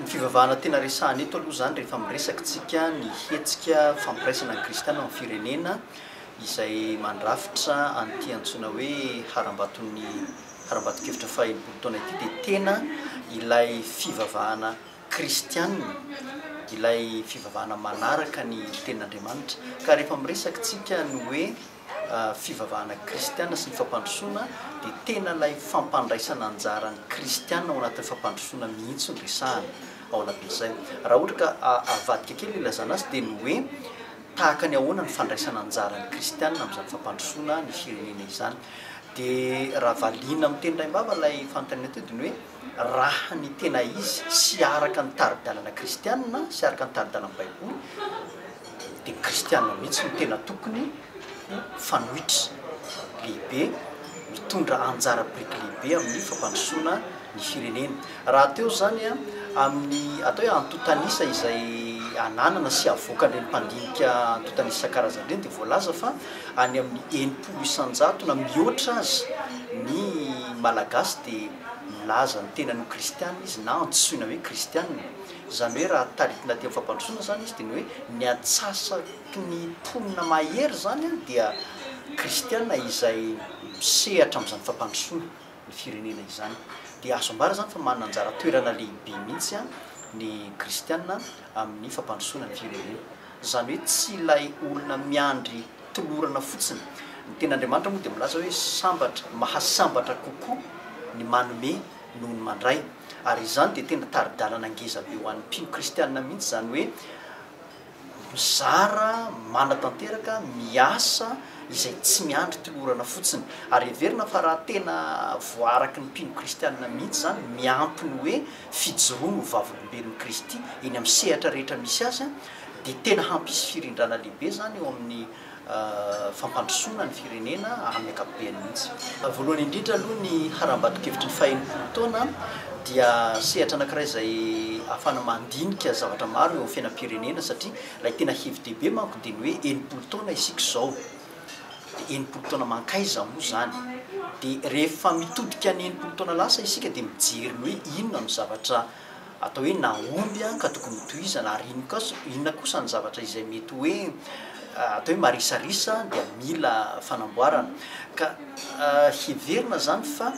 Ny fivavahana tena resahana eto aloha izany rehefa miresaka tsika ny hetsika fampiraisana ny kristiana amin'ny firenena izay mandrafitra an'ity antsoina hoe harambaton'ny harambaton-kevitra faha enimpolo taona ity dia tena ilay fivavahana kristiana ilay fivavahana manaraka ny tenin'Andriamanitra ka rehefa miresaka tsika ny hoe fivavahana kristiana sy ny fampandrosoana dia tena ilay fampandraisana anjara ny kristiana ao anatin'ny fampandrosoana mihitsy no resahana ao anatin'izay. Raha ohatra ka avadika kely ny ilazana azy dia ny hoe tahaka ny ahoana ny fandraisana anjara ny kristiana amin'izany fampandrosoana ny firenena izany. Dia raha valiana amin'ny teny raim-bava ilay fanontaniana teo dia ny hoe. raha ny tena izy sy araka ny tari-dalana kristiana sy araka ny tari-dalan'ny Baiboly, dia ny kristiana mihitsy no tena tokony ho mpanohitra lehibe, mitondra anjara biriky lehibe amin'ny fampandrosoana ny firenena. Rahateo izany, amin'ny atao hoe antontan'isa izay ananana sy avoakan'ireny mpandinika antontan'isa isan-karazany ireny, dia voalaza fa any amin'ny enimpolo isan-jato na mihoatra aza ny Malagasy dia. milaza ny tenany ho kristiana izy na antsoina hoe kristiana. Izany hoe raha taritina teo amin'ny fampandrosoana izany izy dia ny hoe ny antsasaky ny mponina mahery izany dia kristiana izay misehatra amin'izany fampandrosoana ny firenena izany. Dia azo ambara izany fa manana anjara toerana lehibe mihitsy ny kristiana amin'ny fampandrosoana ny firenena. Izany hoe tsy ilay olona miandry tolorana fotsiny. Ny Tenin'Andriamanitra moa dia milaza hoe sambatra, mahasambatra kokoa ny manome noho ny mandray. Ary izany dia tena tari-dalana ngeza be ho an'ny mpino kristiana mihitsy, izany hoe mizara, manatanteraka, miasa, izay tsy miandry tolorana fotsiny. Ary heverina fa raha tena voaaraky ny mpino kristiana mihitsy izany, miampy ny hoe fijoroany ho vavolombelon'i Kristy eny amin'ny sehatra rehetra misy azy, dia tena hampisy firindrana lehibe izany eo amin'ny fampandrosoana ny firenena amin'ny ankapobeny mihitsy. Voalohany indrindra aloha, ny harambato-kevitry ny fahenimpolo taona dia sehatra anankiray izay ahafahana mandinika zavatra maro eo amin'ny fiainam-pirenena, satria ilay tena hevi-dehibe manko dia ny hoe enimpolo taona isika izao. enimpolo taona mankaiza moa izany? Dia rehefa mitodika ny enimpolo taona lasa isika dia mijery ny hoe inona no zavatra atao hoe nahomby ka tokony hotohizana ary inona kosa ny zavatra izay mety hoe atao hoe marisarisa dia mila fanamboarana ka heverina izany fa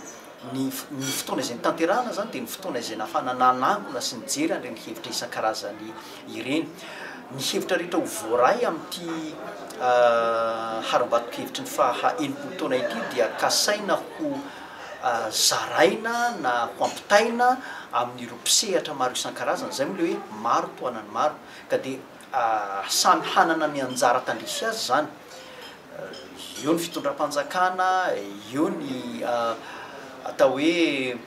Ny ny fotoana izay nitanterahana izany dia ny fotoana izay nahafahana nanangona sy nijery an'ireny hevitra isan-karazany ireny. Ny hevitra rehetra ho voaray amin'ity harambato-kevitry ny faha enimpolo taona ity dia kasaina ho zaraina na ho ampitaina amin'ireo mpisehatra maro isan-karazany, izay moa ilay hoe maro tohanan'ny maro, ka dia samy hanana ny anjara tandrify azy izany. Eo ny fitondram-panjakana, eo ny atao hoe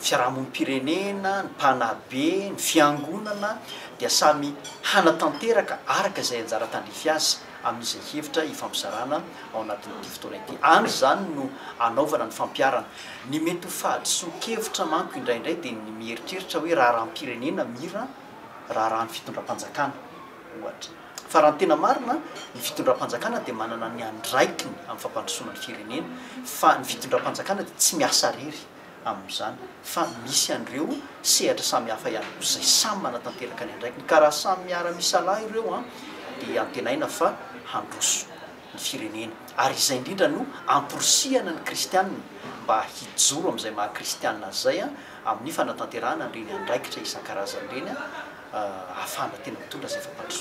fiarahamonim-pirenena, ny mpanabe, ny fiangonana dia samy hanatanteraka araka izay anjara tandrify azy amin'izay hevitra ifampizarana ao anatin'ity fotoana ity. Any izany no anaovana ny fampiharana. Ny mety ho fahadisoan-kevitra manko indraindray dia ny mieritreritra hoe raharaham-pirenena mira raharahan'ny fitondram-panjakana ohatra. Fa raha ny tena marina, ny fitondram-panjakana dia manana ny andraikiny amin'ny fampandrosoana ny firenena, fa ny fitondram-panjakana dia tsy miasa irery amin'izany, fa misy an'ireo sehatra samihafa ihany koa izay samy manatanteraka ny andraikiny, ka raha samy miara-misalahy ireo an, dia antenaina fa handroso ny firenena, ary izay indrindra no amporisihana ny kristiana mba hijoro amin'izay maha kristiana azy izay amin'ny fanatanterahana an'ireny andraikitra isan-karazany ireny ahafahana tena mitondra izay fampandrosoana.